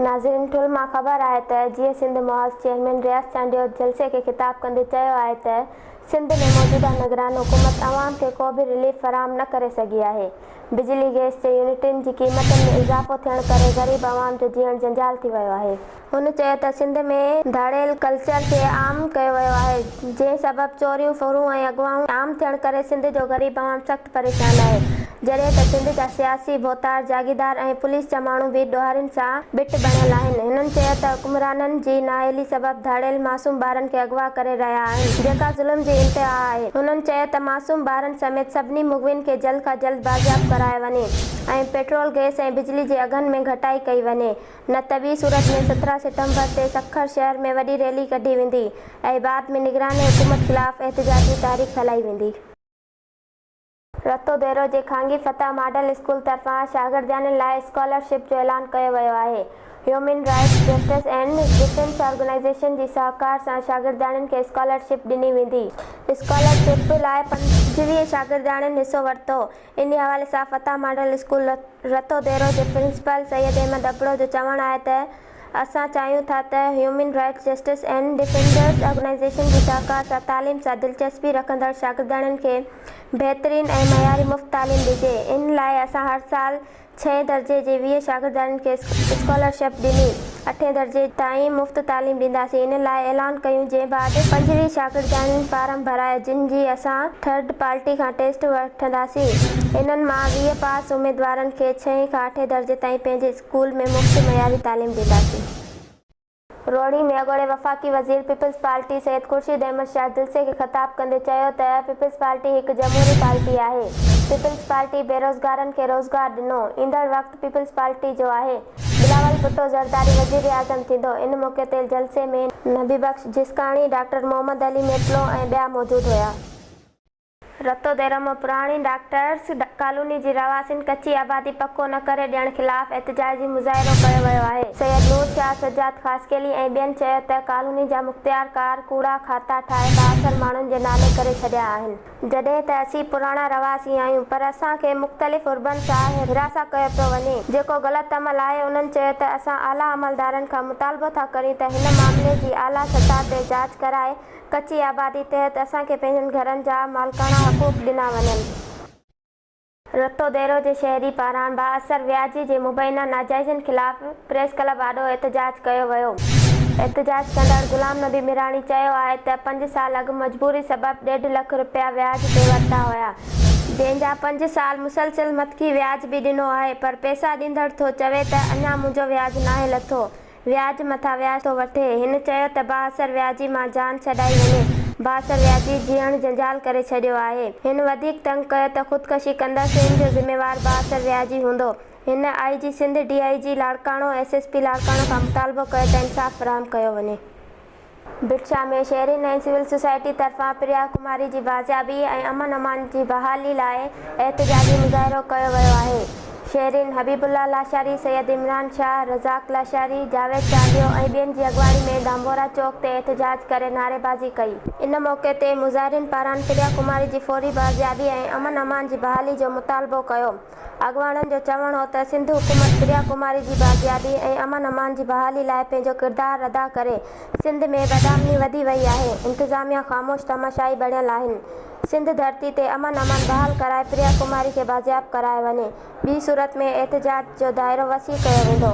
ناظرين ٺل مان خبر آهي ته جيئي سنڌ محاذ چيئرمين رياض چانڊيو جلسي کي خطاب ڪندي چيو آهي ته سنڌ ۾ موجوده نگران حڪومت عوام کي ڪو به رليف فراهم نه ڪري سگهي آهي بجلي گئس جي يونٽن جي قيمتن ۾ اضافو ٿيڻ ڪري غريب عوام جو جيئڻ جنجال ٿي ويو آهي. هن چيو ته سنڌ ۾ ڌاڙيل ڪلچر کي عام ڪيو ويو آهي جنهن سبب چوريون ڦرون ۽ اغواون عام ٿيڻ ڪري سنڌ جو غريب عوام سخت پريشان آهي. جڏهن ته سنڌ جا سياسي، ڀوتار، جاگيردار ۽ پوليس جا ماڻهو به ڏوهارين سان بٽ بڻيل آهن. هنن چيو ته حڪمرانن جي نااهلي سبب ڌاڙيل معصوم ٻارن کي اغوا ڪري رهيا آهن، جيڪا ظلم جي انتها آهي. هنن چيو ته معصوم ٻارن سميت سڀني مغوين کي جلد کان جلد بازياب ڪرايو وڃي ۽ پيٽرول، گئس ۽ بجلي جي اگهن ۾ گهٽائي ڪئي وڃي، نه ته ٻي صورت ۾ سترهن سيٽمبر تي سکر شهر ۾ وڏي ريلي ڪڍي ويندي ۽ بعد ۾ نگران حڪومت خلاف احتجاجي تحريڪ هلائي ويندي. رتو ديرو جي خانگي فتح ماڊل اسڪول طرفان شاگردياڻين لاء اسڪالر شپ جو اعلان ڪيو ويو آهي. Human rights justice and defence organisation جي سهڪار سان شاگردياڻين کي اسڪالر شپ ڏني ويندي. اسڪالر شپ لاء پنجويهه شاگردياڻين حصو ورتو. انهي حوالي سان Fateh model school Ratodero جي پرنسپل سيد احمد ابڙو جو چوڻ آهي ته اسان چاهيون ٿا ته human rights justice and defenders organisation جي شاهڪار سان تعليم سان دلچسپي رکندڙ شاگردياڻين کي بهترين ۽ معياري مفت تعليم ڏجي ان لاء اسان هر سال ڇهين درجي جي ويهه شاگردياڻين کي اسڪالرشپ ڏني اٺين درجي تائين مفت تعليم ڏينداسين ان لاء اعلان ڪيون جنهن بعد پنجويهه شاگردياڻين فارم ڀرايو جن جي اسان ٿرڊ پارٽي کان ٽيسٽ وٺنداسين انهن مان ويهه پاس اميدوارن کي ڇهين کان اٺين درجي تائين پنهنجي اسڪول ۾ مفت معياري تعليم ڏينداسين. روهڙي ۾ اڳوڻي وفاقي وزير پيپلز پارٽي سيد خورشيد احمد شاهه جلسي کي خطاب ڪندي چيو ته پيپلز پارٽي هڪ جمهوري پارٽي آهي، پيپلز پارٽي بيروزگارن کي روزگار ڏنو، ايندڙ وقت پيپلز پارٽي جو آهي، بلاول ڀٽو زرداري وزيراعظم ٿيندو، ان موقعي تي جلسي ۾ نبي بخش جسڪاڻي، ڊاڪٽر محمد علي ميپلو ۽ ٻيا موجود هيا. رتو ديرمو پراڻي ڊاڪٽرس ڪالوني جي رهواسين ڪچي آبادي پڪو نه ڪري ڏيڻ خلاف احتجاجي مظاهرو ڪيو ويو آهي، سيد نور شاهه، سجاد خاصخيلي ۽ ٻين چيو ته ڪالوني جا مختيار ڪار ڪوڙا کاتا ٺاهي بااثر ماڻهن جي نالي ڪري ڇڏيا آهن، جڏهن ته اسين پراڻا رهواسي آهيون پر اسان کي مختلف حربن سان هراسان ڪيو پيو وڃي جيڪو غلط عمل آهي، انهن چيو ته اسان اعليٰ عملدارن کان مطالبو ٿا ڪريون ته هن معاملي جي اعليٰ سطح تي جاچ ڪرائي ڪچي آبادي تحت اسان کي پنهنجن گهرن جا مالڪاڻا حقوق ڏنا وڃن. رتو ديرو جي شهري پاران با اثر وياجي جي مبينا ناجائزين خلاف پريس ڪلب آڏو احتجاج ڪيو ويو. احتجاج ڪندڙ غلام نبي ميراڻي چيو آهي ته پنج سال اڳ مجبوري سبب ڏيڍ لک رپيا وياج تي ورتا هيا، جنهن جا پنج سال مسلسل مٿڪي وياج به ڏنو آهي پر پئسا ڏيندڙ ٿو چوي ته اڃا منهنجو وياج ناهي لٿو، وياج مٿان وياج ٿو وٺي. هن چيو ته بااثر وياجي مان جان ڇڏائي وڃي، بااثر وياجي جيئڻ جنجال ڪري ڇڏيو آهي. هن وڌيڪ تنگ ڪيو ته خودڪشي ڪندا سين جو ذميوار بااثر وياجي هوندو. هن I G Sindh, D I G Larkana ۽ S S P Larkana کان مطالبو ڪيو ته انصاف فراهم ڪيو وڃي. ڀٽشاهه ۾ شهرين ۽ سول سوسائٽي طرفان پريا ڪماري جي بازيابي ۽ امن امان جي بحالي لاء احتجاجي مظاهرو ڪيو ويو آهي. شهرين حبيب الله لاشاري، سيد عمران شاهه، رزاق لاشاري، جاويد چانڊيو ۽ ٻين جي اڳواڻي ۾ ڌانڀورا چوڪ تي احتجاج ڪري نعريبازي ڪئي. ان موقعي تي مظاهرين پاران پريا ڪماري جي فوري بازيابي ۽ امن امان جي بحالي جو مطالبو ڪيو. اڳواڻن جو چوڻ هو ته سنڌ حڪومت پريا ڪماري جي باقيابي ۽ امن امان جي بحالي لاء پنهنجو ڪردار ادا ڪري، سنڌ ۾ بدامني وڌي وئي آهي، انتظاميا خاموش تماشائي بڻيل آهن، سنڌ ڌرتي تي امن امان بحال ڪرائي پريا ڪماري کي بازياب ڪرايو وڃي، ٻي صورت ۾ احتجاج جو دائرو وسيع ڪيو ويندو.